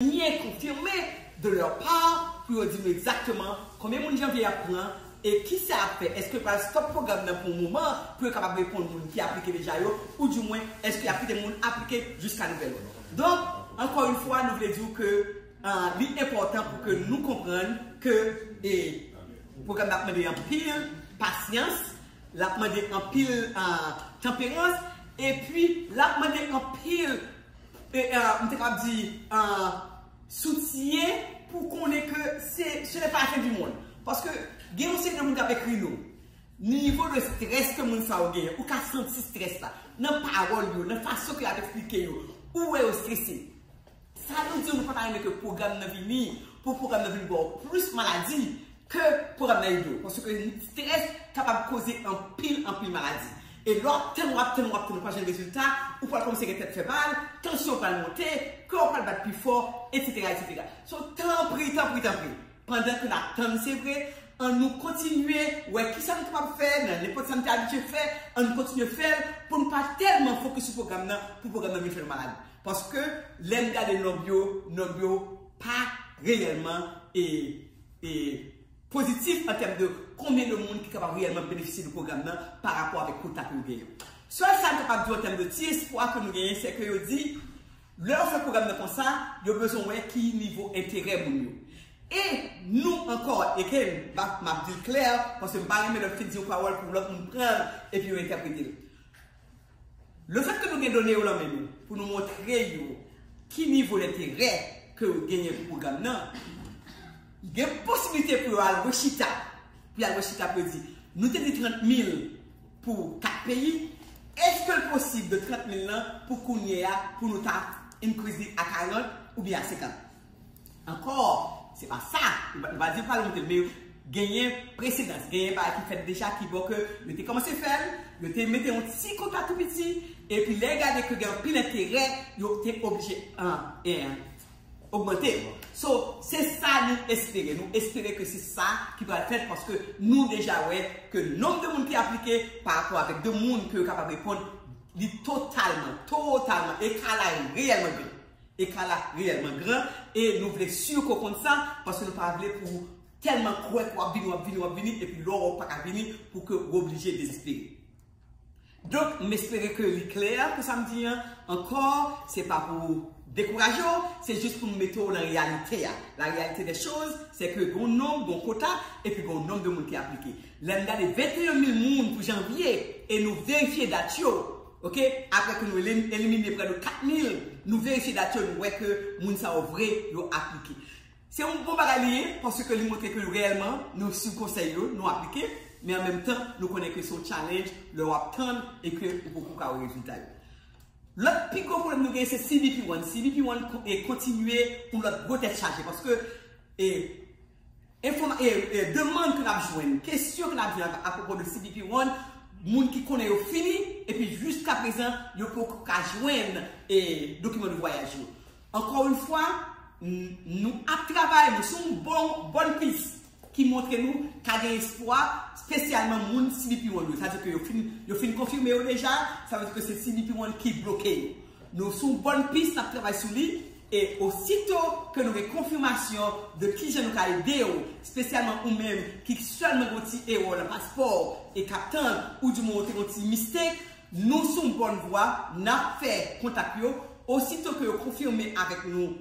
byen konfime de leur part pou yo di nou egzakteman konbyen moun Janvier ap pran e kisa yap fè, eske yo pral stop pwogram nan pou yon moman pou yo kapab reponn moun ki aplike deja yo ou di mwen eske yap kite moun aplike jiska nouvèl òd. Donk ankò yon fwa nou vle di ou ke li enpòtan pou ke nou konprann ke e pwogram nan ap mande anpil pasyans, lap mande anpil tanperans epi lap mande anpil m te kab di, soutyen pou konnen ke se ne pa fen di mond. Paske gen yon seri de moun kap ekri nou, ni nivo de stress ke moun sa yo genyen, ou ka santi stress la. Nan pawol yo, nan fason ke yap eksplike yo, ou wè yo stresse. Sa nou di yo nou pa ta renmen ke pwogram nan vini, pou pwogram nan vin baw plis maladi. Ke pwogram nan ede w. Paske ke stress kapab koze anpil, anpil maladi. E lè w ap tann, w ap tann, w ap tann, ou pa janm gen rezilta, ou pral kòmanse gen tèt fè mal, tansyon w pral monte, kè w pral bat pi fò, etsetera, etsetera. So, tanpri, tanpri, tanpri, pandan ke n ap tann se vre, an nou kontinye wè kisa nou kapab fè nan nenpòt sa nou te abitye fè, an nou kontinye fè l pou nou pa tèlman fokis sou pwogram nan, pou pwogram nan vin fè nou malad. Paske lè n gade nonb yo, nonb yo pa reyèlman e. e pozitif an tèm de konbyen de moun ki kapab reyèlman benefisye de pwogram nan pa rapò avèk kota ke nou genyen. Sèl sa m kapab di w an tèm de ti espwa ke nou genyen se ke yo di lè yo fè pwogram nan konsa yo bezwen wè ki nivo enterè moun yo. E nou ankò, again, m ap di l klè paske m pa renmen lè m fin di yon pawòl pou lòt moun pran l epi yo entèprete l. Lefèt ke nou gen done yo lan men nou pou nou montre yo ki nivo lenterè ke yo genyen pou pwogram nan, gen posibilite pou yo al rechita, pou yo al rechita pou yo di, nou te di 30 mil pou 4 peyi, eske l posib de 30 mil lan pou kounye a pou nou ta increase li a 40 oubyen a 50? Ankò, se pa sa. Nou pa di pral monte l, men genyen presedans, genyen bagay ki fèt deja ki bon ke yo te kòmanse fè l, yo te mete yon ti kota tou piti, epi lè yo gade ke gen anpil enterè, yo te oblije ogmante l. So, se sa nou espere. Nou espere ke se sa ki pral fèt paske nou deja wè ke nonb de moun ki aplike pa rapò avèk de moun ke yo kapab reponn, li totalman, totalman, ekala yo reyèlman gran. Ekar la reyèlman gran e nou vle sur ke w konn sa paske nou pa vle pou w tèlman kwè ke w ap vini, w ap vini, w ap vini epi lè w wè w pa ka vini pou ke w oblije dezespere. Donk m espere ke li klè pou sa m di an. Ankò, se pa pou dekouraje w, se jis pou m mete w nan reyalite a. La reyalite dè choz se ke gen yon nonb, gen yon kota epi gen yon nonb de moun ki aplike. Lè n gade 21 mil moun pou janvye e nou verifye dat yo, Ok apre ke nou elimine prè de 4 mil nou verifye dat yo nou wè ke moun sa yo vre yo aplike. Se yon bon bagay li ye paske li montre ke reyèlman nou swiv konsèy yo nou aplike men an menm tan nou konnen ke se yon challenge lè wap tann e ke ou poko ka wè rezilta yo. Lòt pi gwo pwoblèm nou gen se cbp one. Cbp one kontinye yon lòt gwo tèt chaje paske e Demann ke nap jwenn, kesyon ke nap jwenn apwopo de CBP One, moun ki konnen yo fini, epi jiska prezan yo poko ka jwenn dokiman de vwayaj yo. Ankò yon fwa, nou ap travay, nou sou yon bòn pis ki montre nou ka gen espwa, spesyalman moun CBP One yo. Sa vle di ke yo fin konfime yo deja, sa vle di ke se CBP One ki bloke yo. Nou sou bòn pis nap travay sou li e osito ke nou gen konfimasyon de kijan nou ka ede w, spesyalman ou menm ki sèlman gen yon ti erò nan paspò w e kap tann ou di mwen ou te gen yon ti mistake, nou sou bòn vwa nap fè kontak yo osito ke yo konfime avèk nou.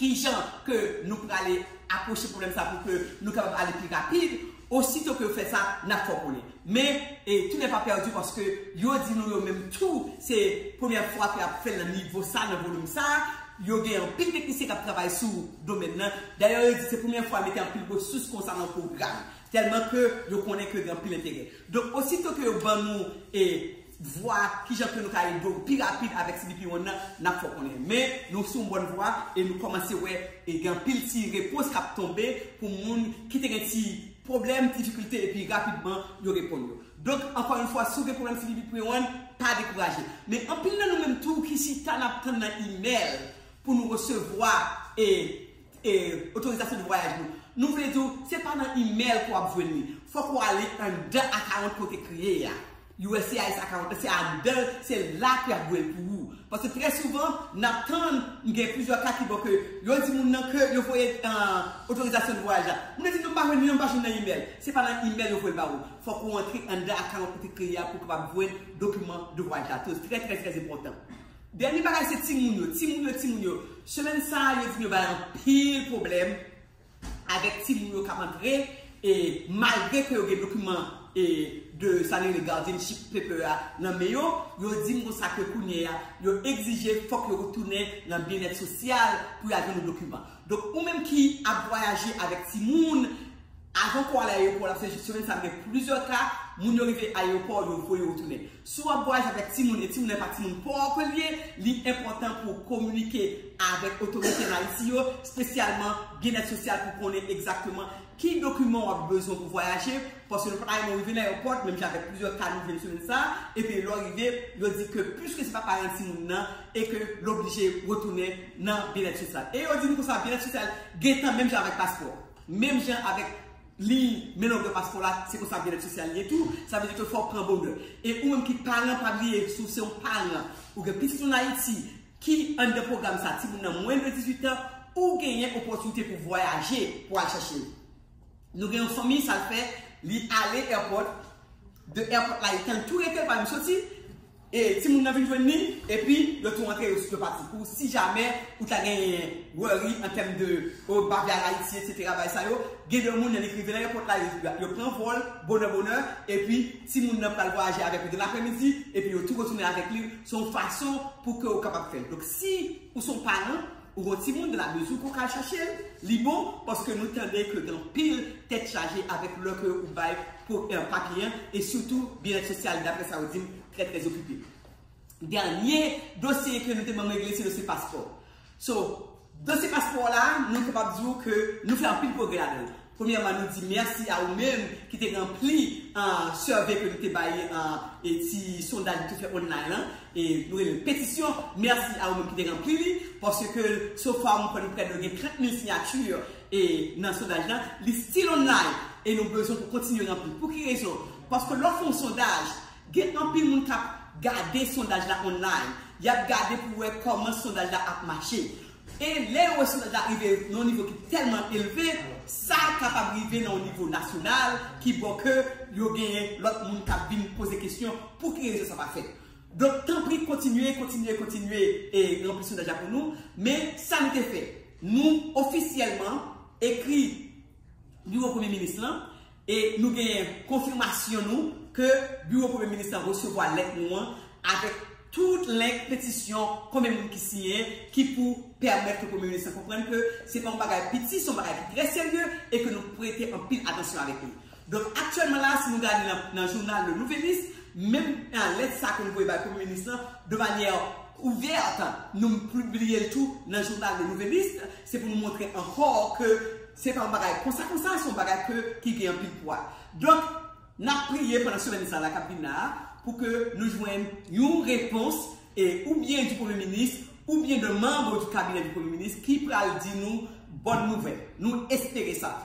Kijan ke nou prale apwoche pwoblèm sa pou ke nou kapab ale pi rapid, osito ke yo fè sa, n ap fò koule. Men, tout nèf pa pèdi paske yo di nou yo menm tou se premyè fwa ke y ap fè l nan nivo sa, nan volim sa. Yo gen anpil teknisyen k ap travay sou domèn nan. Dayè yo di se premyè fwa yo mete anpil resous konsa nan yon pwogram. Tèlman ke yo konnen ke gen anpil enterè. Donk, osito ke yo ban nou e. vwa kijan ke nou ka ede w pi rapid avèk CBP One nan nap fè w konnen men nou sou yon bòn vwa e nou kòmanse wè e gen anpil ti repons kap tonbe pou moun ki te gen ti pwoblèm ti difikilte epi rapidman yo reponn yo donk ankò yon fwa si w gen pwoblèm CBP Pre One pa dekouraje men anpil nan nou menm tou ki chita nap tann nan imèl pou nou resevwa e e otorizasyon de vwayaj nou nou vle di w se pa nan imèl ke wap jwenn li fòk ou ale anndan akawont ke w te kreye a. USCIS account se andan l se la pou y ap voye l pou ou. Paske trè souvan n ap tann, m gen plizyè ka ki bon ke yo di moun nan ke yo voye otorizasyon de vwayaj la. Moun nan di non m pa jwenn li non, m pa jwenn nan email. Se pa nan email yo voye l ba ou. Fòk ou antre andan account ou te kreye a pou w kapab jwenn dokiman de vwayaj la. Trè trè trè trè enpòtan. Dènye bagay se timoun yo. Timoun yo, timoun yo. Semèn sa a yo di m yo bay anpil pwoblèm. avèk timoun yo kap antre e malgre ke yo gen dokiman e de sa yo rele guardianship paper a nan men yo, yo di m konsa ke kounye a yo egzije fòk yo retounen nan byennèt sosyal pou y al jwenn yon dokiman. Donk ou menm ki ap vwayaje avèk timoun, avan ke w al ayewopò la, paske semèn sa m gen plizyè ka, moun yo rive ayewopò, yo voye yo retounen. Si w ap vwayaje avèk timoun e timoun nan e pa timoun pòv ke l ye, li enpòtan pou w kominike avèk otorite an Ayiti yo, spesyalman Byennèt Sosyal pou konnen egzakteman ki dokiman w ap bezwen pou vwayaje, paske nou pa ta renmen w rive nan èwopò, menm jan avèk plizyè ka nou jwenn semèn sa a, epi lè w rive, yo di ke piske se pa paran timoun nan e ke l oblije retounen nan Byennèt Sosyal. E yo di nou konsa Byennèt Sosyal gentan menm jan avèk paspò, menm jan avèk. Li Men non Grandpaspò la se konsa byennèt sosyal ye tou, sa vle di ke fò w pran bonè. E ou menm ki paran pa bliye si w se yon paran ou gen pitit ann Ayiti ki anndan pwogram sa, timoun nan mwens de 18 an, ou genyen opòtinite pou w vwayaje pou w al chache l. Nou gen yon fanmi sa l fè li ale èpòt, de èpòt la li tann tou rete l pa janm soti, E timoun nan vin jwenn li, epi yo tou antre yo yo pati. Pou si jamè ou ta gen worry an tèm de oh m pa vle al Ayiti etc bagay sa yo, gen de moun nan li k rive nan èpòt la yo pran vòl bonè bonè epi timoun nan pral vwayaje avèk ou dan lapremidi epi yo tou retounen avèk li. Se yon fason pou ke ou kapab fè l. Donk si ou se yon paran. Ou gon timoun de la mezi pou kal chachel li bon paske nou tande ke gen pil tèt chaje avèk lò ke ou bay pou papye an e sitou byenèt sosyal daprè sa ou dim trè trè okipe. Dènye dosye ke nou te banm regle se dosye paspò. So dosye paspò la nou kapab di ou ke nou fè anpil pwogrè ladanl. Premyèman nou di mèsi a ou menm ki te ranpli survey ke nou te bay e ti sondaj nou te fè online lan e nou rele l petisyon, mèsi a ou menm ki te ranpli li paske so far mwen kwè nou prè de gen 30 mil siyati e nan sondaj lan, li still online e nou bezwen pou kontinye ranpli. Pou ki rezon? Paske lè w fè yon sondaj gen anpil moun k ap gade sondaj la online, y ap gade pou wè kòman sondaj la ap mache. E lè yon rechoftaj la rive nan yon nivo ki tèlman elve, sa kapab rive nan yon nivo nasyonal ki bo ke yo genyen lòt moun k ap vin poze kesyon pou ki rezon sa pa fèt. Donk tanpri kontinye, kontinye, kontinye e ranpli sondaj la pou nou. Men sa nou te fè, nou ofisyèlman ekri biwo premye minis lan E nou genyen konfimasyon nou ke biwo premye minis lan resevwa lèt nou an avèk tout lenk petisyon konbyen moun ki siyen ki pou pèmèt ke premye minis lan konprann ke se pa yon bagay piti, se yon bagay ki trè serye e ke nou prete anpil atansyon avèk li. Donk aktyèlman la a si nou gade nan jounal Le Nouvelliste, menm lèt sa a ke nou voye bay premye minis lan de manyè ouvèt, nou pibliye l tou nan jounal Le Nouvelliste, se pou nou montre ankò ke. Se pa yon bagay konsa konsa, se yon bagay ke ki gen anpil pwa. Donk, n ap priye pandan semèn sa la k ap vin la a, pou ke nou jwenn yon repons, e ou byen di premye minis, ou byen de manbo di kabinè di premye minis, ki pral di nou bòn nouvèl. Nou espere sa.